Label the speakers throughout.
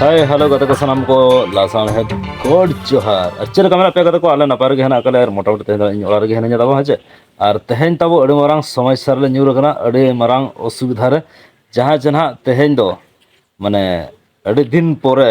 Speaker 1: ᱦᱳᱭ ᱦᱮᱞᱳ ᱜᱟᱛᱮ ᱠᱚ ᱥᱟᱱᱟᱢ ᱠᱚ ᱞᱟᱥᱟᱢ ᱦᱮᱫ ᱜᱚᱰ ᱡᱚᱦᱟᱨ ᱟᱨ ᱪᱮᱫ ᱞᱮᱠᱟ ᱢᱮᱱᱟᱜ ᱯᱮᱭᱟ ᱜᱟᱛᱮ ᱠᱚ ᱟᱞᱮ ᱱᱟᱯᱟᱭ ᱨᱮᱜᱮ ᱦᱮᱱᱟᱜ ᱠᱟᱞᱮ ᱟᱨ ᱢᱚᱴᱟᱢᱩᱴᱤ ᱛᱮᱦᱮᱧ ᱫᱚ ᱤᱧ ᱚᱲᱟᱜ ᱨᱮᱜᱮ ᱦᱮᱱᱟᱹᱧᱟ ᱛᱟᱵᱚ ᱦᱮᱸ ᱪᱮ ᱟᱨ ᱛᱮᱦᱮᱧ ᱛᱟᱵᱚ ᱟᱹᱰᱤ ᱢᱟᱨᱟᱝ ᱥᱚᱢᱚᱥᱥᱟ ᱨᱮᱞᱮ ᱧᱩᱨ ᱟᱠᱟᱱᱟ ᱟᱹᱰᱤ ᱢᱟᱨᱟᱝ ᱚᱥᱩᱵᱤᱫᱷᱟ ᱨᱮ ᱡᱟᱦᱟᱸ ᱡᱮ ᱱᱟᱦᱟᱜ ᱛᱮᱦᱮᱧ ᱫᱚ ᱢᱟᱱᱮ ᱟᱹᱰᱤ ᱫᱤᱱ ᱯᱚᱨᱮ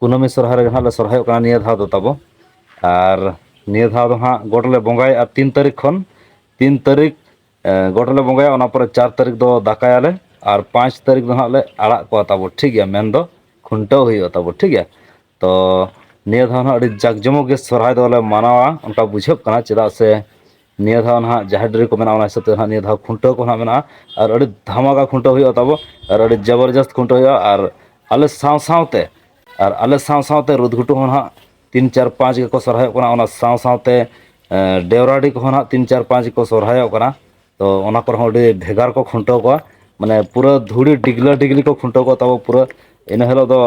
Speaker 1: ᱠᱩᱱᱟᱹᱢᱤ ᱥᱚᱨᱦᱟᱭ ᱨᱮᱜᱮ ᱦᱟᱸᱜ ᱞᱮ ᱥᱚᱨᱦᱟᱭᱚᱜ ᱠᱟᱱᱟ ᱱᱤᱭᱟᱹ ᱫᱷᱟᱣ ᱫᱚ ᱛᱟᱵᱚ ᱟᱨ ᱱᱤᱭᱟᱹ ᱫᱷᱟᱣ ᱫᱚ ᱦᱟᱸᱜ ᱜᱚᱴ ᱞᱮ ᱵᱚᱸᱜᱟᱭᱮᱫᱼᱟ ᱛᱤᱱ ᱛᱟᱹᱨᱤᱠᱷ ᱠᱷᱚᱱ ᱛᱤᱱ ᱛᱟᱹᱨᱤᱠᱷ ᱜᱚᱴ ᱞᱮ ᱵᱚᱸᱜᱟᱭᱟ ᱚᱱᱟ ᱯᱚᱨᱮ ᱪᱟᱨ ᱛᱟᱹᱨᱤᱠᱷ ᱫᱚ ᱫᱟᱠᱟᱭᱟᱞᱮ ᱟᱨ ᱯᱟᱸᱪ ᱛᱟᱹᱨᱤᱠᱷ ᱫᱚ ᱦᱟᱸᱜ ᱞᱮ ᱟᱲᱟᱜ ᱠᱚᱣᱟ ᱛᱟᱵᱚ ᱴᱷᱤᱠ ᱜᱮᱭᱟ ᱢᱮᱱᱫᱚ ᱠᱷᱩᱱᱴᱟᱹᱣ ᱦᱩᱭᱩᱜᱼᱟ ᱛᱟᱵᱚ ᱴᱷᱤᱠ ᱜᱮᱭᱟ ᱛᱚ ᱱᱤᱭᱟᱹ ᱫᱷᱟᱣ ᱦᱟᱸᱜ ᱟᱹᱰᱤ ᱡᱟᱠ ᱡᱚᱢᱚᱠ ᱜᱮ ᱥᱚᱨᱦᱟᱭ ᱫᱚᱞᱮ ᱢᱟᱱᱟᱣᱟ ᱚᱱᱠᱟ ᱵᱩᱡᱷᱟᱹᱜ ᱠᱟᱱᱟ ᱪᱮᱫᱟᱜ ᱥᱮ ᱱᱤᱭᱟᱹ ᱫᱷᱟᱣ ᱱᱟᱦᱟᱜ ᱡᱟᱦᱮᱨ ᱰᱟᱹᱨᱤ ᱠᱚ ᱢᱮᱱᱟᱜᱼᱟ ᱚᱱᱟ ᱦᱤᱥᱟᱹᱵ ᱛᱮ ᱱᱟᱦᱟᱜ ᱱᱤᱭᱟᱹ ᱫᱷᱟᱣ ᱠᱷᱩᱱᱴᱟᱹᱣ ᱠᱚ ᱱᱟᱦᱟᱜ ᱢᱮᱱᱟᱜᱼᱟ ᱟᱨ ᱟᱹᱰᱤ ᱫᱷᱟᱢᱟᱠᱟ ᱠᱷᱩᱱᱴᱟᱹᱣ ᱦᱩᱭᱩᱜᱼᱟ ᱛᱟᱵᱚ ᱟᱨ ᱟᱹᱰᱤ ᱡᱚᱵᱚᱨᱡᱚᱥᱛ ᱠᱷᱩᱱᱴᱟᱹᱣ ᱦᱩᱭᱩᱜᱼᱟ ᱟᱨ ᱟᱞᱮ ᱥᱟᱶ ᱥᱟᱶᱛᱮ ᱟᱨ ᱟᱞᱮ ᱥᱟᱶ ᱥᱟᱶᱛᱮ ᱨᱩᱫᱽ ᱜᱷᱩᱴᱩ ᱦᱚᱸ ᱱᱟᱦᱟᱜ ᱛᱤᱱ ᱪᱟᱨ ᱯᱟᱸᱪ ᱜᱮᱠᱚ ᱥᱚᱦᱨᱟᱭᱚᱜ ᱠᱟᱱᱟ ᱚᱱᱟ ᱥᱟᱶ ᱥᱟᱶᱛᱮ ᱰᱮᱣᱨᱟᱰᱤ ᱠᱚᱦᱚᱸ ᱱᱟᱦᱟᱜ ᱛᱤᱱ ᱪᱟᱨ ᱯᱟᱸᱪ ᱜᱮᱠᱚ ᱥᱚᱦᱨᱟᱭᱚᱜ ᱠᱟᱱᱟ ᱛᱚ ᱚᱱᱟ ᱠᱚᱨᱮ ᱦᱚᱸ ᱟᱹᱰᱤ ᱵᱷᱮᱜᱟᱨ ᱠᱚ ᱠᱷᱩᱱᱴᱟᱹᱣ ᱠᱚᱣᱟ ᱢᱟᱱᱮ ᱯᱩᱨᱟᱹ ᱫᱷᱩᱲᱤ ᱰᱤᱜᱽᱞᱟᱹ ᱰᱤᱜᱽᱞᱤ ᱠᱚ ᱠᱷᱩᱱᱴᱟᱹᱣ ᱠᱚᱣᱟ ᱛᱟᱵᱚ ᱯᱩᱨᱟᱹ ᱤᱱᱟᱹ ᱦᱤᱞᱳᱜ ᱫᱚ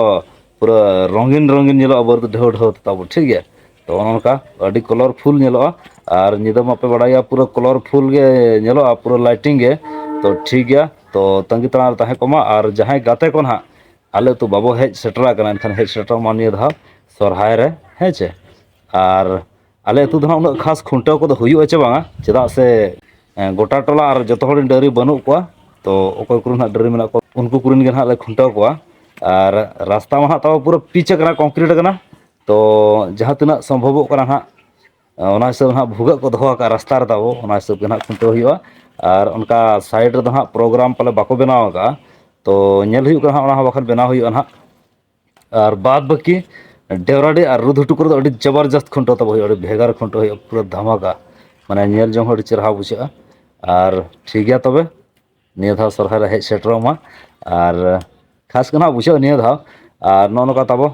Speaker 1: ᱯᱩᱨᱟᱹ ᱨᱚᱝᱜᱤᱱ ᱨᱚᱝᱜᱤᱱ ᱧᱮᱞᱚᱜᱼᱟ ᱵᱟᱹᱨᱩ ᱰᱷᱟᱹᱣ ᱰᱷᱟᱹᱣ ᱛᱮ ᱛᱟᱵᱚ ᱴᱷᱤᱠ ᱜᱮᱭᱟ ᱛᱚ ᱚᱱᱮ ᱚᱱᱠᱟ ᱟᱹᱰᱤ ᱠᱚᱞᱚᱨ ᱯᱷᱩᱞ ᱧᱮᱞᱚᱜᱼᱟ ᱟᱨ ᱧᱤᱫᱟᱹ ᱢᱟᱯᱮ ᱵᱟᱲᱟᱭᱟ ᱯᱩᱨᱟᱹ ᱠᱚᱞᱚᱨ ᱯᱷᱩᱞ ᱜᱮ ᱧᱮᱞᱚᱜᱼᱟ ᱯᱩᱨᱟᱹ ᱞᱟᱭᱴᱤᱝ ᱜᱮ ᱛᱚ ᱴᱷᱤᱠ ᱜᱮᱭᱟ ᱛᱚ ᱛᱟᱺᱜᱤ ᱛᱟᱲᱟᱨᱮ ᱛᱟᱦᱮᱸ ᱠᱚᱜ ᱢᱟ ᱟᱨ ᱡᱟᱦᱟᱸᱭ ᱜᱟᱛᱮ ᱠᱚ ᱱᱟᱦᱟᱜ ᱟᱞᱮ ᱟᱹᱛᱩ ᱵᱟᱵᱚ ᱦᱮᱡ ᱥᱮᱴᱮᱨ ᱟᱠᱟᱱᱟ ᱮᱱᱠᱷᱟᱱ ᱦᱮᱡ ᱥᱮᱴᱮᱨᱚᱜ ᱢᱟ ᱱᱤᱭᱟᱹ ᱫᱷᱟᱣ ᱥᱚᱨᱦᱟᱭ ᱨᱮ ᱦᱮᱸ ᱪᱮ ᱟᱨ ᱟᱞᱮ ᱟᱹᱛᱩ ᱫᱚ ᱦᱟᱸᱜ ᱩᱱᱟᱹᱜ ᱠᱷᱟᱥ ᱠᱷᱩᱱᱴᱟᱹᱣ ᱠᱚᱫᱚ ᱦᱩᱭᱩᱜᱼᱟ ᱪᱮ ᱵᱟᱝᱟ ᱪᱮᱫᱟᱜ ᱥᱮ ᱮᱸ ᱜᱚᱴᱟ ᱴᱚᱞᱟ ᱟᱨ ᱡᱚᱛᱚ ᱦᱚᱲ ᱨᱮᱱ ᱰᱟᱹᱝᱨᱤ ᱵᱟᱹᱱᱩᱜ ᱠᱚᱣᱟ ᱛᱚ ᱚᱠᱚᱭ ᱠᱚᱨᱮᱱ ᱦᱟᱸᱜ ᱰᱟᱹᱝᱨᱤ ᱢᱮᱱᱟᱜ ᱠᱚᱣᱟ ᱩᱱᱠᱩ ᱠᱚᱨᱮᱱ ᱜᱮ ᱱᱟᱦᱟᱜ ᱞᱮ ᱠᱷᱩᱱᱴᱟᱹᱣ ᱠᱚᱣᱟ ᱟᱨ ᱨᱟᱥᱛᱟ ᱢᱟ ᱦᱟᱸᱜ ᱛᱟᱢᱟ ᱯᱩᱨᱟᱹ ᱯᱤᱪ ᱟᱠᱟᱱᱟ ᱠᱚᱝᱠᱨᱤᱴ ᱟᱠᱟᱱᱟ ᱛᱚ ᱡᱟᱦᱟᱸ ᱛᱤᱱᱟᱹᱜ ᱥᱚᱢᱵᱷᱚᱵᱚᱜ ᱠᱟᱱᱟ ᱦᱟᱸᱜ ᱚᱱᱟ ᱦᱤᱥᱟᱹᱵᱽ ᱱᱟᱦᱟᱜ ᱵᱷᱩᱜᱟᱹᱜ ᱠᱚ ᱫᱚᱦᱚ ᱟᱠᱟᱫᱼᱟ ᱨᱟᱥᱛᱟ ᱨᱮ ᱛᱟᱵᱚ ᱚᱱᱟ ᱦᱤᱥᱟᱹᱵᱽ ᱜᱮ ᱱᱟᱦᱟᱜ ᱠᱷᱩᱱᱴᱟᱹᱣ ᱦᱩᱭᱩᱜᱼᱟ ᱟᱨ ᱚᱱᱠᱟ ᱥᱟᱭᱤᱰ ᱨᱮᱫᱚ ᱦᱟᱸᱜ ᱯᱨᱳᱜᱨᱟᱢ ᱯᱟᱞᱮ ᱵᱟᱠᱚ ᱵᱮᱱᱟᱣ ᱟᱠᱟᱜᱼᱟ ᱛᱚ ᱧᱮᱞ ᱦᱩᱭᱩᱜ ᱠᱟᱱᱟ ᱦᱟᱸᱜ ᱚᱱᱟ ᱦᱚᱸ ᱵᱟᱠᱷᱟᱱ ᱵᱮᱱᱟᱣ ᱦᱩᱭᱩᱜᱼᱟ ᱦᱟᱸᱜ ᱟᱨ ᱵᱟᱫ ᱵᱟᱹᱠᱤ ᱰᱮᱣᱨᱟᱰᱤ ᱟᱨ ᱨᱩᱫᱽ ᱦᱩᱴᱩ ᱠᱚᱨᱮ ᱫᱚ ᱟᱹᱰᱤ ᱡᱚᱵᱚᱨᱡᱚᱥᱛ ᱠᱷᱩᱱᱴᱟᱹᱣ ᱛᱟᱵᱚ ᱦᱩᱭᱩᱜᱼᱟ ᱟᱹᱰᱤ ᱵᱷᱮᱜᱟᱨ ᱠᱷᱩᱱᱴᱟᱹᱣ ᱦᱩᱭᱩᱜᱼᱟ ᱯᱩᱨᱟᱹ ᱫᱷᱟᱢᱟᱠᱟ ᱢᱟᱱᱮ ᱧᱮᱞ ᱡᱚᱝ ᱦᱚᱸ ᱟᱹᱰᱤ ᱪᱮᱦᱨᱟ ᱵᱩᱡᱷᱟᱹᱜᱼᱟ ᱟᱨ ᱴᱷᱤᱠ ᱜᱮᱭᱟ ᱛᱚᱵᱮ ᱱᱤᱭᱟᱹ ᱫᱷᱟᱣ ᱥᱚᱨᱦᱟᱭ ᱨᱮ ᱦᱮᱡ ᱥᱮᱴᱮᱨᱚᱜ ᱢᱟ ᱟᱨ ᱠᱷᱟᱥ ᱜᱮ ᱱᱟᱦᱟᱜ ᱵᱩᱡᱷᱟᱹᱜᱼᱟ ᱱᱤᱭᱟᱹ ᱫᱷᱟᱣ ᱟᱨ ᱱᱚᱜᱼᱚ ᱱᱚᱝᱠᱟ ᱛᱟᱵᱚ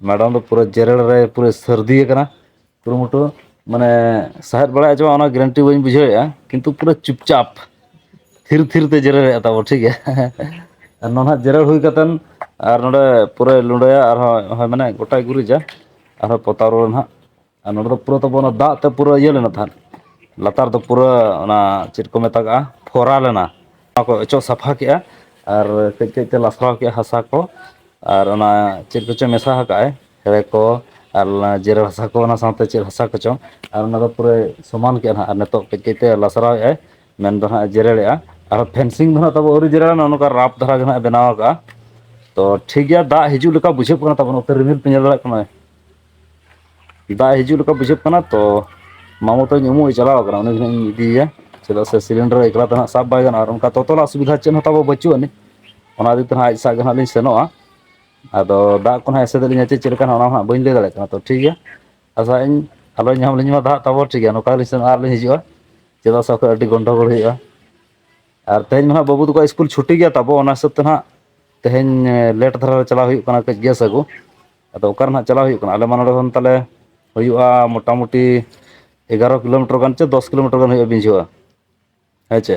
Speaker 1: ᱢᱮᱰᱚᱢ ᱫᱚ ᱯᱩᱨᱟᱹ ᱡᱮᱨᱮᱲ ᱨᱮ ᱯᱩᱨᱟᱹ ᱥᱟᱹᱨᱫᱤ ᱟᱠᱟᱱᱟ ᱠᱩᱨᱩᱢᱩᱴᱩ ᱢᱟᱱᱮ ᱥᱟᱦᱮᱫ ᱵᱟᱲᱟᱭ ᱦᱚᱪᱚ ᱚᱱᱟ ᱜᱮᱨᱮᱱᱴᱤ ᱵᱟᱹᱧ ᱵᱩᱡᱷᱟᱹᱣᱮᱫᱼᱟ ᱠᱤᱱᱛᱩ ᱯᱩᱨᱟᱹ ᱪᱩᱯᱪᱟᱯ ᱛᱷᱤᱨ ᱛᱷᱤᱨ ᱛᱮ ᱡᱮᱨᱮᱲᱮᱫᱼᱟ ᱛᱟᱵᱚ ᱴᱷᱤᱠ ᱜᱮᱭᱟ ᱟᱨ ᱱᱚᱣᱟ ᱱᱟᱦᱟᱜ ᱡᱮᱨᱮᱲ ᱦᱩᱭ ᱠᱟᱛᱮᱫ ᱟᱨ ᱱᱚᱰᱮ ᱯᱩᱨᱟᱹᱭ ᱞᱩᱰᱟᱹᱭᱟ ᱟᱨᱦᱚᱸ ᱢᱟᱱᱮ ᱜᱚᱴᱟᱭ ᱜᱩᱨᱤᱡᱟ ᱟᱨᱦᱚᱸ ᱯᱚᱛᱟᱣ ᱨᱩᱣᱟᱹᱲ ᱱᱟᱦᱟᱜ ᱟᱨ ᱱᱚᱸᱰᱮ ᱫᱚ ᱯᱩᱨᱟᱹ ᱛᱟᱵᱚᱱ ᱚᱱᱟ ᱫᱟᱜ ᱛᱮ ᱯᱩᱨᱟᱹ ᱤᱭᱟᱹ ᱞᱮᱱᱟ ᱛᱟᱦᱮᱸᱫ ᱞᱟᱛᱟᱨ ᱫᱚ ᱯᱩᱨᱟᱹ ᱚᱱᱟ ᱪᱮᱫ ᱠᱚ ᱢᱮᱛᱟᱜᱟᱜᱼᱟ ᱠᱷᱚᱨᱟ ᱞᱮᱱᱟ ᱚᱱᱟ ᱠᱚ ᱚᱪᱚᱜ ᱥᱟᱯᱷᱟ ᱠᱮᱜᱼᱟ ᱟᱨ ᱠᱟᱹᱡ ᱠᱟᱹᱡ ᱛᱮ ᱞᱟᱥᱟᱣ ᱠᱮᱫᱼᱟ ᱦᱟᱥᱟ ᱠᱚ ᱟᱨ ᱚᱱᱟ ᱪᱮᱫ ᱠᱚᱪᱚ ᱢᱮᱥᱟ ᱟᱠᱟᱫᱼᱟᱭ ᱦᱮᱲᱮ ᱠᱚ ᱟᱨ ᱚᱱᱟ ᱡᱮᱨᱮᱲ ᱦᱟᱥᱟ ᱠᱚ ᱚᱱᱟ ᱥᱟᱶᱛᱮ ᱪᱮᱫ ᱦᱟᱥᱟ ᱠᱚᱪᱚᱝ ᱟᱨ ᱚᱱᱟ ᱫᱚ ᱯᱩᱨᱟᱹ ᱥᱚᱢᱟᱱ ᱠᱮᱫᱼᱟ ᱦᱟᱸᱜ ᱟᱨ ᱱᱤᱛᱚᱜ ᱠᱟᱹᱡ ᱠᱟᱹᱡ ᱛᱮ ᱞᱟᱥᱨᱟᱣ ᱮᱫᱼᱟᱭ ᱢᱮᱱ ᱫᱚ ᱦᱟᱸᱜ ᱡᱮᱨᱮᱲᱮᱜᱼᱟ ᱟᱨᱦᱚᱸ ᱯᱷᱮᱱᱥᱤᱝ ᱫᱚ ᱦᱟᱸᱜ ᱛᱟᱵᱚ ᱟᱹᱣᱨᱤ ᱡᱮᱨᱮᱲ ᱱᱚᱜᱼᱚ ᱱᱚᱝᱠᱟ ᱨᱟᱯ ᱫᱷᱟᱨᱟ ᱜᱮ ᱦᱟᱸᱜ ᱵᱮᱱᱟᱣ ᱟᱠᱟᱜᱼᱟ ᱛᱚ ᱴᱷᱤᱠ ᱜᱮᱭᱟ ᱫᱟᱜ ᱦᱤᱡᱩᱜ ᱞᱮᱠᱟ ᱵᱩᱡᱷᱟᱹᱜ ᱠᱟᱱᱟ ᱛᱟᱵᱚᱱ ᱱᱚᱛᱮ ᱨᱤᱢᱤᱞ ᱯᱮ ᱧᱮᱞ ᱫᱟᱲᱮᱭᱟᱜ ᱠᱟᱱᱟ ᱫᱟᱜ ᱦᱤᱡᱩᱜ ᱞᱮᱠᱟ ᱵᱩᱡᱷᱟᱹᱜ ᱠᱟᱱᱟ ᱛᱚ ᱢᱟᱢᱚ ᱛᱟᱹᱧ ᱩᱢᱩᱜ ᱮ ᱪᱟᱞᱟᱣ ᱟᱠᱟᱱᱟ ᱩᱱᱤ ᱜᱮ ᱦᱟᱸᱜ ᱤᱧ ᱤᱫᱤᱭᱮᱭᱟ ᱪᱮᱫᱟᱜ ᱥᱮ ᱥᱤᱞᱤᱱᱰᱟᱨ ᱮᱠᱞᱟ ᱛᱮ ᱦᱟᱸᱜ ᱥᱟᱵ ᱵᱟᱭ ᱜᱟᱱᱚᱜᱼᱟ ᱟᱨ ᱚᱱᱠᱟ ᱛᱚᱛᱚᱞᱟᱜ ᱥᱩᱵᱤᱫᱷᱟ ᱪᱮᱫ ᱦᱚᱸ ᱛᱟᱵᱚ ᱵᱟᱹᱪᱩᱜ ᱟᱹᱱᱤᱡ ᱚᱱᱟ ᱤᱫᱤ ᱛᱮᱦᱟᱸᱜ ᱟᱡ ᱥᱟᱜ ᱜᱮ ᱦᱟᱸᱜ ᱞᱤᱧ ᱥᱮᱱᱚᱜᱼᱟ ᱟᱫᱚ ᱫᱟᱜ ᱠᱚ ᱦᱟᱸᱜ ᱮᱥᱮᱫ ᱟᱹᱞᱤᱧᱟ ᱪᱮ ᱪᱮᱫ ᱞᱮᱠᱟ ᱦᱟᱸᱜ ᱚᱱᱟ ᱦᱟᱸᱜ ᱵᱟᱹᱧ ᱞᱟᱹᱭ ᱫᱟᱲᱮᱭᱟᱜ ᱠᱟᱱᱟ ᱛᱚ ᱴᱷᱤᱠ ᱜᱮᱭᱟ ᱟᱥᱟᱭ ᱟᱹᱧ ᱟᱞᱚ ᱧᱟᱢ ᱞᱤᱧ ᱢᱟ ᱫᱟᱜ ᱛᱟᱵᱚ ᱴᱷᱤᱠ ᱜᱮᱭᱟ ᱱᱚᱝᱠᱟ ᱜᱮᱞᱤᱧ ᱥᱮᱱᱚᱜᱼᱟ ᱟᱨ ᱞᱤᱧ ᱦᱤᱡᱩᱜᱼᱟ ᱪᱮᱫᱟᱜ ᱥᱮ ᱵᱟᱠᱷᱟᱡ ᱟᱹᱰᱤ ᱜᱚᱱᱰᱚᱜᱳᱲ ᱦᱩᱭᱩᱜᱼᱟ ᱟᱨ ᱛᱮᱦᱮᱧ ᱢᱟ ᱦᱟᱸᱜ ᱵᱟᱹᱵᱩ ᱛᱟᱠᱚᱣᱟᱜ ᱤᱥᱠᱩᱞ ᱪᱷᱩᱴᱤ ᱜᱮᱭᱟ ᱛᱟᱵᱚ ᱚᱱᱟ ᱦᱤᱥᱟᱹᱵᱽ ᱛᱮ ᱦᱟᱸᱜ ᱛᱮᱦᱮᱧ ᱞᱮᱴ ᱫᱷᱟᱨᱟ ᱨᱮ ᱪᱟᱞᱟᱜ ᱦᱩᱭᱩᱜ ᱠᱟᱱᱟ ᱠᱟᱹᱡ ᱜᱮᱥ ᱟᱹᱜᱩ ᱟᱫᱚ ᱚᱠᱟᱨᱮ ᱱᱟᱦᱟᱜ ᱪᱟᱞᱟᱣ ᱦᱩᱭᱩᱜ ᱠᱟᱱᱟ ᱟᱞᱮ ᱢᱟ ᱱᱚᱸᱰᱮ ᱠᱷᱚᱱ ᱛᱟᱞᱮ ᱦᱩᱭᱩᱜᱼᱟ ᱢᱚᱴᱟᱢᱩᱴᱤ ᱮᱜᱟᱨᱚ ᱠᱤᱞᱳᱢᱤᱴᱚᱨ ᱜᱟᱱ ᱪᱚ ᱫᱚᱥ ᱠᱤᱞᱳᱢᱤᱴᱚᱨ ᱜᱟᱱ ᱦᱩᱭᱩᱜᱼᱟ ᱵᱤᱡᱷᱚ-ᱟ ᱦᱮᱸ ᱪᱮ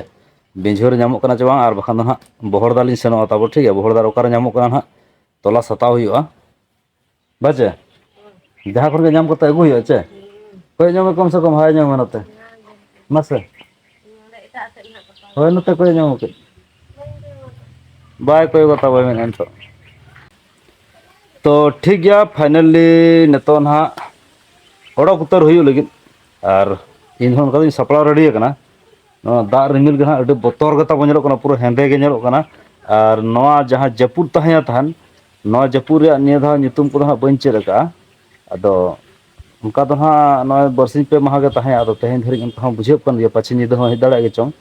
Speaker 1: ᱵᱤᱡᱷᱚ ᱨᱮ ᱧᱟᱢᱚᱜ ᱠᱟᱱᱟ ᱪᱮ ᱵᱟᱝ ᱟᱨ ᱵᱟᱠᱷᱟᱱ ᱫᱚ ᱦᱟᱸᱜ ᱵᱚᱦᱚᱲᱫᱟ ᱞᱤᱧ ᱥᱮᱱᱚᱜᱼᱟ ᱛᱟᱵᱚ ᱴᱷᱤᱠ ᱜᱮᱭᱟ ᱵᱚᱦᱚᱲᱫᱟ ᱨᱮ ᱚᱠᱟᱨᱮ ᱧᱟᱢᱚᱜ ᱠᱟᱱᱟ ᱦᱟᱸᱜ ᱛᱚᱞᱟᱥ ᱦᱟᱛᱟᱣ ᱦᱩᱭᱩᱜᱼᱟ ᱵᱟᱪᱮ ᱡᱟᱦᱟᱸ ᱠᱚᱨᱮ ᱜᱮ ᱧᱟᱢ ᱠᱟᱛᱮ ᱟᱹᱜᱩᱭ ᱦᱩᱭᱩᱜᱼᱟ ᱪᱮ ᱦᱳᱭ ᱧᱚᱜ ᱢᱮ ᱠᱚᱢ ᱥᱮ ᱠᱚᱢ ᱦᱟᱭ ᱧᱚᱜ ᱢᱮ ᱱᱚᱛᱮ ᱢᱟᱥᱮ ᱚᱸᱰᱮ ᱮᱴᱟᱜ ᱥᱮᱫ ᱦᱟᱸᱜ ᱜᱟᱯᱟ ᱦᱳᱭ ᱱᱚᱛᱮ ᱠᱚᱭᱚᱜ ᱧᱚᱜ ᱢᱮ ᱠᱟᱹᱡ ᱵᱟᱹᱧ ᱠᱚᱭᱚᱜ ᱟᱠᱟᱫ ᱵᱟᱭ ᱠᱚᱭᱚᱜᱼᱟ ᱛᱟᱣ ᱵᱟᱭ ᱢᱮᱱᱮᱫᱼᱟ ᱱᱤᱛᱚᱜ ᱛᱚ ᱴᱷᱤᱠ ᱜᱮᱭᱟ ᱯᱷᱟᱭᱱᱟᱞᱤ ᱱᱤᱛᱚᱜ ᱱᱟᱦᱟᱜ ᱚᱰᱚᱠ ᱩᱛᱟᱹᱨ ᱦᱩᱭᱩᱜ ᱞᱟᱹᱜᱤᱫ ᱟᱨ ᱤᱧ ᱦᱚᱸ ᱚᱱᱠᱟ ᱫᱚᱧ ᱥᱟᱯᱲᱟᱣ ᱨᱮᱰᱤ ᱟᱠᱟᱱᱟ ᱱᱚᱣᱟ ᱫᱟᱜ ᱨᱤᱢᱤᱞ ᱜᱮ ᱦᱟᱸᱜ ᱟᱹᱰᱤ ᱵᱚᱛᱚᱨ ᱜᱮ ᱛᱟᱵᱚ ᱧᱮᱞᱚᱜ ᱠᱟᱱᱟ ᱯᱩᱨᱟᱹ ᱦᱮᱸᱫᱮ ᱜᱮ ᱧᱮᱞᱚᱜ ᱠᱟᱱᱟ ᱟᱨ ᱱᱚᱣᱟ ᱡᱟᱦᱟᱸ ᱡᱟᱹᱯᱩᱫ ᱛᱟᱦᱮᱸᱭᱟ ᱛᱟᱦᱮᱱ ᱱᱚᱣᱟ ᱡᱟᱹᱯᱩᱫ ᱨᱮᱭᱟᱜ ᱱᱤᱭᱟᱹ ᱫᱷᱟᱣ ᱧᱩᱛᱩᱢ ᱠᱚᱫᱚ ᱦᱟᱸᱜ ᱵᱟᱹᱧ ᱪᱮᱫ ᱟᱠᱟᱫᱼᱟ ᱟᱫᱚ ᱚᱱᱠᱟ ᱫᱚ ᱦᱟᱸᱜ ᱱᱚᱜᱼᱚᱭ ᱵᱟᱨᱥᱤᱧ ᱯᱮ ᱢᱟᱦᱟ ᱜᱮ ᱛᱟᱦᱮᱸ ᱟᱫᱚ ᱛᱮᱦᱮᱧ ᱫᱷᱟᱹᱨᱤᱡ ᱚᱱᱠᱟ ᱦᱚᱸ ᱵᱩᱡᱷᱟᱹᱜ ᱠᱟᱱ ᱜᱮᱭᱟ ᱯᱟᱪᱷᱮ ᱧᱤᱫᱟᱹ ᱦᱚᱸ ᱦᱮᱡ ᱫᱟᱲᱮᱭᱟᱜ ᱜᱮ ᱪᱚᱝ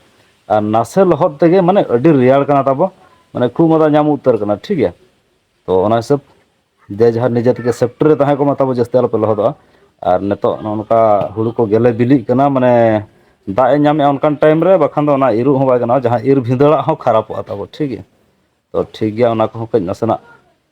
Speaker 1: ᱟᱨ ᱱᱟᱥᱮ ᱞᱚᱦᱚᱫ ᱛᱮᱜᱮ ᱢᱟᱱᱮ ᱟᱹᱰᱤ ᱨᱮᱭᱟᱲ ᱠᱟᱱᱟ ᱛᱟᱵᱚ ᱢᱟᱱᱮ ᱠᱷᱩᱜ ᱢᱟᱫᱟ ᱧᱟᱢ ᱩᱛᱟᱹᱨ ᱠᱟᱱᱟ ᱴᱷᱤᱠ ᱜᱮᱭᱟ ᱛᱚ ᱚᱱᱟ ᱦᱤᱥᱟᱹᱵᱽ ᱡᱮ ᱡᱟᱦᱟᱸ ᱱᱤᱡᱮ ᱛᱮᱜᱮ ᱥᱮᱯᱴᱤ ᱨᱮ ᱛᱟᱦᱮᱸ ᱠᱚᱜ ᱢᱟ ᱛᱟᱵᱚ ᱡᱟᱹᱥᱛᱤ ᱟᱞᱚᱯᱮ ᱞᱚᱦᱚᱫᱚᱜᱼᱟ ᱟᱨ ᱱᱤᱛᱚᱜ ᱱᱚᱜᱼᱚ ᱱᱚᱝᱠᱟ ᱦᱩᱲᱩ ᱠᱚ ᱜᱮᱞᱮ ᱵᱤᱞᱤᱜ ᱠᱟᱱᱟ ᱢᱟᱱᱮ ᱫᱟᱜ ᱮ ᱧᱟᱢᱮᱫᱼᱟ ᱚᱱᱠᱟᱱ ᱴᱟᱭᱤᱢ ᱨᱮ ᱵᱟᱠᱷᱟᱱ ᱫᱚ ᱚᱱᱟ ᱤᱨᱚᱜ ᱦᱚᱸ ᱵᱟᱭ ᱜᱟᱱᱚᱜᱼᱟ ᱡᱟᱦᱟᱸ ᱤᱨ ᱵᱷᱤᱸᱫᱟᱹᱲᱟᱜ ᱦᱚᱸ ᱠᱷᱟᱨᱟᱯᱚᱜᱼᱟ ᱛᱟᱵᱚ ᱴᱷᱤᱠ ᱜᱮᱭᱟ ᱛᱚ ᱴᱷᱤᱠ ᱜᱮᱭᱟ ᱚᱱᱟ ᱠᱚᱦᱚᱸ ᱠᱟᱹᱡ ᱱᱟᱥᱮᱱᱟᱜ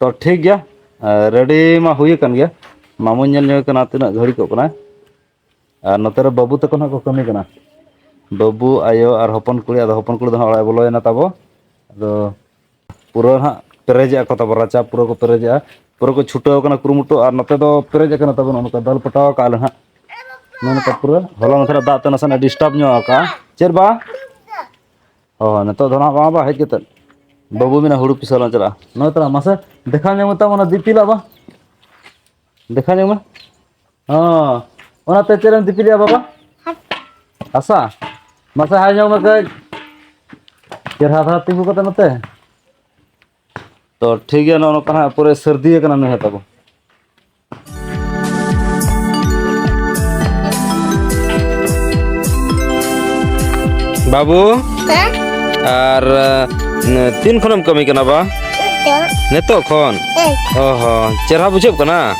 Speaker 1: ᱛᱚ ᱴᱷᱤᱠ ᱜᱮᱭᱟ ᱨᱮᱰᱤ ᱢᱟ ᱦᱩᱭ ᱟᱠᱟᱱ ᱜᱮᱭᱟ ᱢᱟᱢᱩ ᱧᱮᱞ ᱧᱚᱜ ᱠᱟᱱᱟ ᱛᱤᱱᱟᱹᱜ ᱜᱷᱟᱹᱲᱤ ᱠᱚᱜ ᱠᱟᱱᱟ ᱟᱨ ᱱᱚᱛᱮ ᱨᱮ ᱵᱟᱹᱵᱩ ᱛᱟᱠᱚ ᱱᱟᱜ ᱠᱚ ᱠᱟᱹᱢᱤ ᱠᱟᱱᱟ ᱵᱟᱹᱵᱩ ᱟᱭᱳ ᱟᱨ ᱦᱚᱯᱚᱱ ᱠᱩᱲᱤ ᱟᱫᱚ ᱦᱚᱯᱚᱱ ᱠᱩᱲᱤ ᱫᱚ ᱦᱟᱸᱜ ᱚᱲᱟᱜ ᱵᱚᱞᱚᱭᱮᱱᱟ ᱛᱟᱵᱚ ᱟᱫᱚ ᱯᱩᱨᱟᱹ ᱦᱟᱸᱜ ᱯᱮᱨᱮᱡᱮᱜᱼᱟ ᱠᱚ ᱛᱟᱵᱚ ᱨᱟᱪᱟ ᱯᱩᱨᱟᱹ ᱠᱚ ᱯᱮᱨᱮᱡᱮᱜᱼᱟ ᱯᱩᱨᱟᱹ ᱠᱚ ᱪᱷᱩᱴᱟᱹᱣ ᱠᱟᱱᱟ ᱠᱩᱨᱩᱢᱩᱴᱩ ᱟᱨ ᱱᱚᱛᱮ ᱫᱚ ᱯᱮᱨᱮᱡ ᱟᱠᱟᱱᱟ ᱛᱟᱵᱚᱱ ᱚᱱᱠᱟ ᱫᱟᱞ ᱯᱚᱴᱟᱣ ᱠᱟᱜᱼᱟ ᱞᱮ ᱦᱟᱸᱜ ᱱᱚᱜᱼᱚ ᱱᱚᱝᱠᱟ ᱯᱩᱨᱟᱹ ᱦᱚᱞᱟ ᱢᱟᱫᱷᱮᱨ ᱫᱟᱜ ᱛᱮ ᱱᱟᱥᱮᱱᱟᱜ ᱰᱤᱥᱴᱟᱵᱽ ᱧᱚᱜ ᱟᱠᱟᱜᱼᱟ ᱪᱮᱫ ᱵᱟ ᱚ ᱱᱤᱛᱚᱜ ᱫᱚ ᱱᱟᱦᱟᱜ ᱵᱟᱝ ᱵᱟᱝ ᱦᱮᱡ ᱠᱟᱛᱮᱫ ᱵᱟᱹᱵᱩ ᱢᱮᱱᱟ ᱦᱩᱲᱩ ᱯᱤᱥᱟᱹ ᱞᱟᱝ ᱪᱟᱞᱟᱜᱼᱟ ᱱᱚᱜᱼᱚᱭ ᱛᱟᱞᱟᱝ ᱢᱟᱥᱮ ᱫᱮᱠᱷᱟᱣ ᱧᱚᱜᱽ ᱢᱮᱛᱟᱢ ᱚᱱᱟ ᱫᱤᱯᱤᱞᱟᱜ ᱵᱟᱝ ᱫᱮᱠᱷᱟᱣ ᱧᱚᱜᱽ ᱢᱮ ᱦᱚᱸ ᱚᱱᱟᱛᱮ ᱪᱮᱫ ᱮᱢ ᱫᱤᱯᱤᱞᱮᱜᱼᱟ ᱵᱟᱵᱟ ᱦᱟᱥᱟ ᱢᱟᱥᱮ ᱦᱟᱭ ᱧᱚᱜᱽ ᱢᱮ ᱠᱟᱹᱡ ᱪᱮᱨᱦᱟ ᱫᱷᱟᱨᱟ ᱛᱤᱸᱜᱩ ᱠᱟᱛᱮ ᱱᱚᱛᱮ ᱛᱚ ᱴᱷᱤᱠ ᱜᱮᱭᱟ ᱱᱚᱜᱼᱚ ᱱᱚᱝᱠᱟ ᱦᱟᱸᱜ ᱯᱩᱨᱟᱹ ᱥᱟᱹᱨᱫᱤ ᱟᱠᱟᱱᱟ ᱱᱩᱭ ᱦᱚᱸ ᱛᱟᱵᱚ ᱵᱟᱹᱵᱩ ᱟᱨ ᱛᱤᱱ ᱠᱷᱚᱱᱮᱢ ᱠᱟᱹᱢᱤ ᱠᱟᱱᱟ ᱵᱟ ᱱᱤᱛᱚᱜ ᱠᱷᱚᱱ ᱚ ᱦᱚᱸ ᱪᱮᱨᱦᱟ ᱵᱩᱡᱷᱟᱹᱜ ᱠᱟᱱᱟ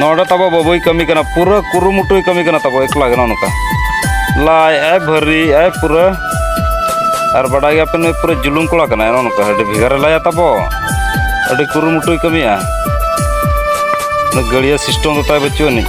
Speaker 1: ᱱᱚᱰᱮ ᱛᱟᱵᱚ ᱵᱟᱹᱵᱩᱭ ᱠᱟᱹᱢᱤ ᱠᱟᱱᱟ ᱯᱩᱨᱟᱹ ᱠᱩᱨᱩᱢᱩᱴᱩᱭ ᱠᱟᱹᱢᱤ ᱠᱟᱱᱟ ᱛᱟᱵᱚ ᱮᱠᱞᱟ ᱜᱮ ᱱᱚᱝᱠᱟ ᱞᱟᱭ ᱟᱭ ᱵᱷᱟᱹᱨᱤ ᱟᱭ ᱯᱩᱨᱟᱹ ᱟᱨ ᱵᱟᱰᱟᱭ ᱜᱮᱭᱟ ᱯᱮ ᱱᱩᱭ ᱯᱩᱨᱟᱹ ᱡᱩᱞᱩᱢ ᱠᱚᱲᱟ ᱠᱟᱱᱟᱭ ᱱᱚᱝᱠᱟ ᱟᱹᱰᱤ ᱵᱷᱮᱜᱟᱨᱮ ᱞᱟᱭᱟ ᱛᱟᱵᱚ ᱟᱹᱰᱤ ᱠᱩᱨᱩᱢᱩᱴᱩᱭ ᱠᱟᱹᱢᱤᱭᱟ ᱱᱩᱭ ᱜᱟᱹᱲᱤᱭᱟᱹ ᱥᱤᱥᱴᱮᱢ ᱫᱚ ᱛᱟᱭ ᱵᱟᱹᱪᱩᱜ ᱟᱹᱱᱤᱡ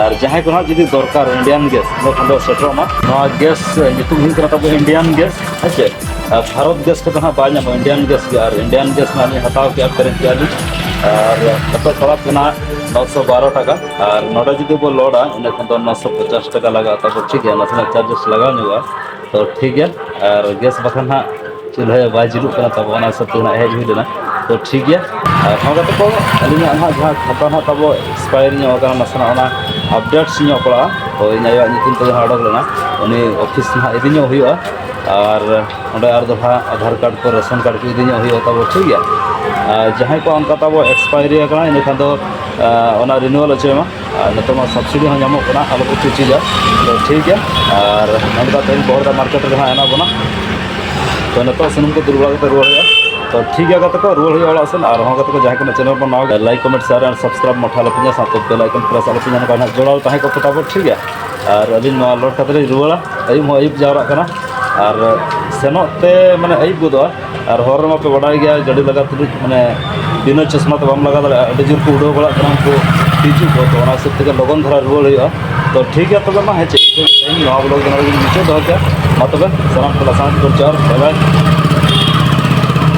Speaker 1: ᱟᱨ ᱡᱟᱦᱟᱸᱭ ᱠᱚ ᱦᱟᱸᱜ ᱡᱩᱫᱤ ᱫᱚᱨᱠᱟᱨ ᱤᱱᱰᱤᱭᱟᱱ ᱜᱮᱥ ᱚᱸᱰᱮ ᱠᱷᱚᱱ ᱫᱚ ᱥᱮᱴᱮᱨᱚᱜ ᱢᱟ ᱱᱚᱣᱟ ᱜᱮᱥ ᱧᱩᱛᱩᱢ ᱦᱩᱭᱩᱜ ᱠᱟᱱᱟ ᱛᱟᱵᱚ ᱤᱱᱰᱤᱭᱟᱱ ᱜᱮᱥ ᱦᱮᱸ ᱪᱮ ᱟᱨ ᱵᱷᱟᱨᱚᱛ ᱜᱮᱥ ᱠᱚᱫᱚ ᱦᱟᱸᱜ ᱵᱟᱭ ᱧᱟᱢᱚᱜᱼᱟ ᱤᱱᱰᱤᱭᱟᱱ ᱜᱮᱥ ᱜᱮ ᱟᱨ ᱤᱱᱰᱤᱭᱟᱱ ᱜᱮᱥ ᱱᱟᱜ ᱞᱤᱧ ᱦᱟᱛᱟᱣ ᱠᱮᱜᱼᱟ ᱯᱮᱨᱮᱡ ᱠᱮᱜᱼᱟ ᱞᱤᱧ ᱟᱨ ᱱᱤᱛᱚᱜ ᱯᱟᱲᱟᱜ ᱠᱟᱱᱟ ᱱᱚ ᱥᱚ ᱵᱟᱨᱚ ᱴᱟᱠᱟ ᱟᱨ ᱱᱚᱰᱮ ᱡᱩᱫᱤ ᱵᱚ ᱞᱳᱰᱟ ᱚᱸᱰᱮ ᱠᱷᱚᱱ ᱫᱚ ᱱᱚ ᱥᱚ ᱯᱚᱪᱟᱥ ᱴᱟᱠᱟ ᱞᱟᱜᱟᱜᱼᱟ ᱛᱟᱵᱚ ᱴᱷᱤᱠ ᱜᱮᱭᱟ ᱱᱟᱥᱮᱱᱟᱜ ᱪᱟᱨᱡᱮᱥ ᱞᱟᱜᱟᱣ ᱧᱚᱜᱚᱜᱼᱟ ᱛᱚ ᱴᱷᱤᱠ ᱜᱮᱭᱟ ᱟᱨ ᱜᱮᱥ ᱵᱟᱠᱷᱟᱱ ᱦᱟᱸᱜ ᱪᱩᱞᱦᱟᱹ ᱵᱟᱭ ᱡᱩᱞᱩᱜ ᱠᱟᱱᱟ ᱛᱟᱵᱚ ᱚᱱᱟ ᱦᱤᱥᱟᱹᱵ ᱛᱮ ᱦᱮᱡ ᱦᱩᱭ ᱞᱮᱱᱟ ᱛᱚ ᱴᱷᱤᱠ ᱜᱮᱭᱟ ᱟᱨ ᱦᱚᱸ ᱠᱟᱛᱮ ᱠᱚ ᱟᱹᱞᱤᱧᱟᱜ ᱱᱟᱦᱟᱜ ᱡᱟᱦᱟᱸ ᱠᱷᱟᱛᱟ ᱱᱟᱦᱟᱜ ᱛᱟᱵᱚ ᱮᱠᱥᱯᱟᱭᱟᱨ ᱧᱚᱜ ᱟᱠᱟᱱᱟ ᱱᱟᱥᱮᱱᱟᱜ ᱚᱱᱟ ᱟᱯᱰᱮᱴᱥ ᱧᱚᱜ ᱯᱟᱲᱟᱜᱼᱟ ᱛᱚ ᱤᱧ ᱟᱭᱳᱣᱟᱜ ᱧᱩᱛᱩᱢ ᱛᱮ ᱡᱟᱦᱟᱸ ᱚᱰᱚᱠ ᱞᱮᱱᱟ ᱩᱱᱤ ᱚᱯᱷᱤᱥ ᱱᱟᱦᱟᱜ ᱤᱫᱤ ᱧᱚᱜ ᱦᱩᱭᱩᱜᱼᱟ ᱟᱨ ᱚᱸᱰᱮ ᱟᱨ ᱫᱚᱦᱲᱟ ᱟᱫᱷᱟᱨ ᱠᱟᱨᱰ ᱠᱚ ᱨᱮᱥᱚᱱ ᱠᱟᱨᱰ ᱠᱚ ᱤᱫᱤ ᱧᱚᱜ ᱦᱩᱭᱩᱜᱼᱟ ᱛᱟᱵᱚ ᱴᱷᱤᱠ ᱜᱮᱭᱟ ᱟᱨ ᱡᱟᱦᱟᱸᱭ ᱠᱚᱣᱟᱜ ᱚᱱᱠᱟ ᱛᱟᱵᱚ ᱮᱠᱥᱯᱟᱭᱟᱨᱤ ᱟᱠᱟᱱᱟ ᱤᱱᱟᱹ ᱠᱷᱟᱱ ᱫᱚ ᱚᱱᱟ ᱨᱤᱱᱩᱣᱟᱞ ᱦᱚᱪᱚᱭ ᱢᱟ ᱱᱤᱛᱚᱜ ᱢᱟ ᱥᱟᱵᱥᱤᱰᱤ ᱦᱚᱸ ᱧᱟᱢᱚᱜ ᱠᱟᱱᱟ ᱟᱞᱚ ᱯᱮ ᱪᱤᱪᱤᱡᱟ ᱛᱚ ᱴᱷᱤᱠ ᱜᱮᱭᱟ ᱟᱨ ᱱᱚᱸᱰᱮ ᱫᱚ ᱛᱮᱦᱮᱧ ᱵᱚᱦᱚᱲᱫᱟ ᱢᱟᱨᱠᱮᱴ ᱨᱮ ᱦᱟᱸᱜ ᱦᱮᱱᱟᱜ ᱵᱚᱱᱟ ᱛᱚ ᱱᱤᱛᱚᱜ ᱥᱩᱱᱩᱢ ᱠᱚ ᱫᱩᱞ ᱵᱟᱲᱟ ᱠᱟᱛᱮ ᱨᱩᱣᱟᱹᱲ ᱦᱩᱭᱩᱜᱼᱟ ᱛᱚ ᱴᱷᱤᱠ ᱜᱮᱭᱟ ᱜᱟᱛᱮ ᱠᱚ ᱨᱩᱣᱟᱹᱲ ᱦᱩᱭᱩᱜᱼᱟ ᱚᱲᱟᱜ ᱥᱮᱱ ᱟᱨ ᱦᱚᱸ ᱜᱟᱛᱮ ᱠᱚ ᱡᱟᱦᱟᱸᱭ ᱠᱚ ᱪᱮᱱᱮᱞ ᱵᱚᱱ ᱱᱟᱣᱟ ᱜᱮᱭᱟ ᱞᱟᱭᱤᱠ ᱠᱚᱢᱮᱱᱴ ᱥᱮᱭᱟᱨ ᱟᱨ ᱥᱟᱵᱥᱠᱨᱟᱭᱤᱵ ᱢᱟᱴᱷᱟ ᱟᱞᱚ ᱯᱮᱧᱟ ᱥᱟᱶᱛᱮ ᱵᱮᱞ ᱟᱭᱠᱚᱱ ᱯᱨᱮᱥ ᱟᱞᱚ ᱯᱮᱧᱟ ᱱᱚᱝᱠᱟ ᱦᱟᱸᱜ ᱡᱚᱲᱟᱣ ᱛᱟᱦᱮᱸ ᱠᱚᱜ ᱯᱮ ᱛᱟᱵᱚᱱ ᱴᱷᱤᱠ ᱜᱮᱭᱟ ᱟᱨ ᱟᱹᱞᱤᱧ ᱱᱚᱣᱟ ᱞᱳᱰ ᱠᱟᱛᱮ ᱞᱤᱧ ᱨᱩᱣᱟᱹᱲᱟ ᱟᱹᱭᱩᱵ ᱦᱚᱸ ᱟᱹᱭᱩᱵ ᱡᱟᱣᱨᱟᱜ ᱠᱟᱱᱟ ᱟᱨ ᱥᱮᱱᱚᱜ ᱛᱮ ᱢᱟᱱᱮ ᱟᱹᱭᱩᱵ ᱜᱚᱫᱚᱜᱼᱟ ᱟᱨ ᱦᱚᱨ ᱨᱮᱢᱟ ᱯᱮ ᱵᱟᱰᱟᱭ ᱜᱮᱭᱟ ᱜᱟᱹᱰᱤ ᱞᱟᱜᱟ ᱛᱩᱞᱩᱡ ᱢᱟᱱᱮ ᱵᱤᱱᱟᱹ ᱪᱚᱥᱢᱟ ᱛᱮ ᱵᱟᱢ ᱞᱟᱜᱟ ᱫᱟᱲᱮᱭᱟᱜᱼᱟ ᱟᱹᱰᱤ ᱡᱳᱨ ᱠᱚ ᱩᱰᱟᱹᱣ ᱵᱟᱲᱟᱜ ᱠᱟᱱᱟ ᱩᱱᱠᱩ ᱛᱤᱡᱩ ᱠᱚ ᱛᱚ ᱚᱱᱟ ᱦᱤᱥᱟᱹᱵ ᱛᱮᱜᱮ ᱞᱚᱜᱚᱱ ᱫᱷᱟᱨᱟ ᱨᱩᱣᱟᱹᱲ ᱦᱩᱭᱩᱜᱼᱟ ᱛᱚ ᱴᱷᱤᱠ ᱜᱮᱭᱟ ᱛᱚᱵᱮ ᱢᱟ ᱦᱮᱸ ᱪᱮᱫ ᱤᱧ ᱱᱚᱣᱟ ᱵᱞᱚᱜᱽ ᱫᱚ ᱱᱚᱰᱮ ᱜᱤᱧ ᱢᱩᱪᱟᱹᱫ ᱫᱚᱦᱚ ᱠᱮᱫᱼᱟ ᱢᱟ ᱛᱚᱵᱮ ᱥᱟᱱᱟᱢ ᱠᱚ ᱞᱟᱥᱟᱱ ᱠᱚ ᱡᱚᱦᱟᱨ ᱵᱟᱭ ᱵᱟᱭ